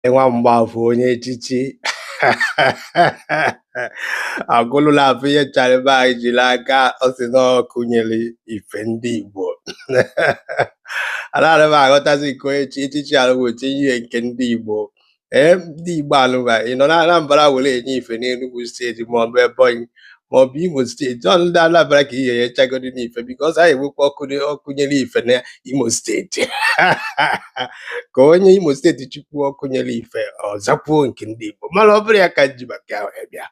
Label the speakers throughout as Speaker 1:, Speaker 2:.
Speaker 1: nwa mgbafọ onye echichi agụlụla afọ ihe chara ebe anyị jiri aka ọ sị na ọkụ nyere ife ndị Igbo anaghị m aghọtazi nke onye chie echichi anụwa tinye ihe nke ndị Igbo ee ndị Igbo anụwa ị nọ na Anambra were enye ife n'Enugu steeti maọbụ Ebonyi ma ọ bụ imo steeti ọ ndị Anambra ka ihe ya chagoro n'ife because anyị enwekwa ọkụ na- ọkụ nyere ife na imo steeti ka onye imo steeti chikwuo ọkụ nyere ife ọ zakwuo nke ndị igbo mana ọ bụrọ ya ka m ji maka ya bịa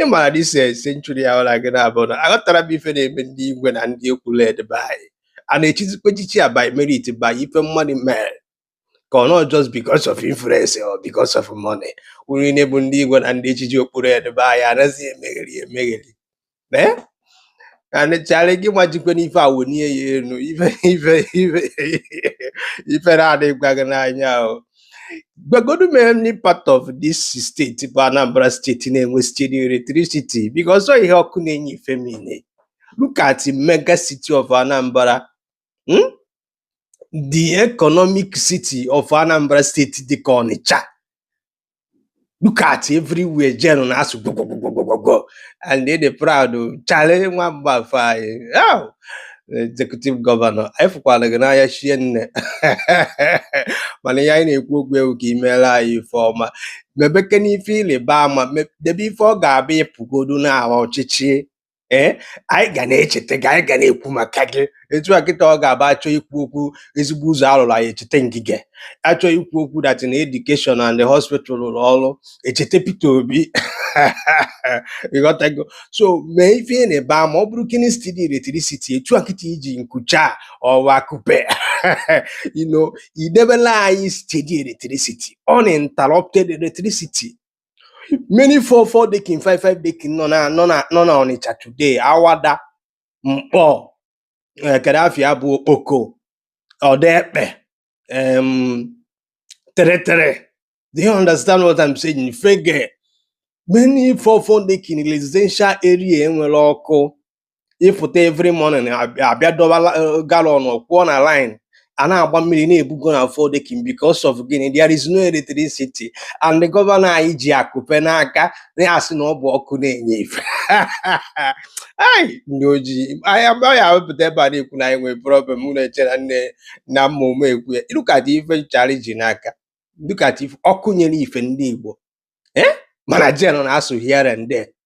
Speaker 1: ị maara na this century ya ọla gị na-abụ na aghọtara m ife na-eme ndị igwe na ndị okpu red be anyị a na-echizikwa echichi a by merit by ife mmadụ mere ka ọ not just because of influence or because of money unu niile bụ ndị igwe na ndị echichi okpu red be anyị anaghị emegheri emegheri ee anịchara gị majikwe n'ife awụ nie ya elu ife ife ife ife na-adịgwa gị n'anya ahụ gwagodu m any part of this steeti bụ Anambra steeti na-enwe steady electricity because ọ ihe ọkụ na-enye ife mean look at mega city of Anambra hmm? the economic city of Anambra State dịka Ọnịcha look at everywhere gen na-asụ gwogwogwogwogwo and they dey proud o Charlie nwa mgbafọ anyị our executive governor anyị fụkwara gị n'anya shinne mana ihe anyị na-ekwu ugbu a wụ ka i meela anyị ife ọma mebekene ife ịrịba ama me- debe ife ọ ga-abụ ị pụgodu n'ọkwa ọchịchị ee anyị ga na-echeta gị anyị ga na-ekwu maka gị etu a kịta ọ ga-abụ a chọọ ikwu okwu ezigbo ụzọ a lụrụ anyị echeta Ngige a chọọ ikwu okwu dat na education and hospital rụrụ ọrụ e cheta Peter Obi ị ghọtago so mee ife ịrịba ama ọ bụrụkene steady electricity etu a kịta i ji nkucha ọ wụ akupe you know i debela anyị steady electricity uninterrupted electricity many four four dekin five five dekin nọ na nọ na nọ na ọnịcha today awada mkpọ eh, kedu afịa bụ okpoko ọdaekpe um, tere tere do you understand what i'm saying fege many four four dekin residential area enwere ọkụ ị fụta every morning a bịa a bịa dọba la- eh, gallon kwụọ na line a na-agba mmiri na-ebugo na four decking because of gịnị there is no electricity and the governor anyị ji akupe n'aka na-asị na ọ bụ ọkụ na-enye ife Ai, ndị ojii anyị amaghị awepụta ebe a na-ekwu na anyị nwere problem m na-eche na nne na mma ụmụ ekwu ya ịlụkata ife nchara ji n'aka dịkata ife ọkụ nyere ife ndị Igbo eh? mana gen na-asụ here and there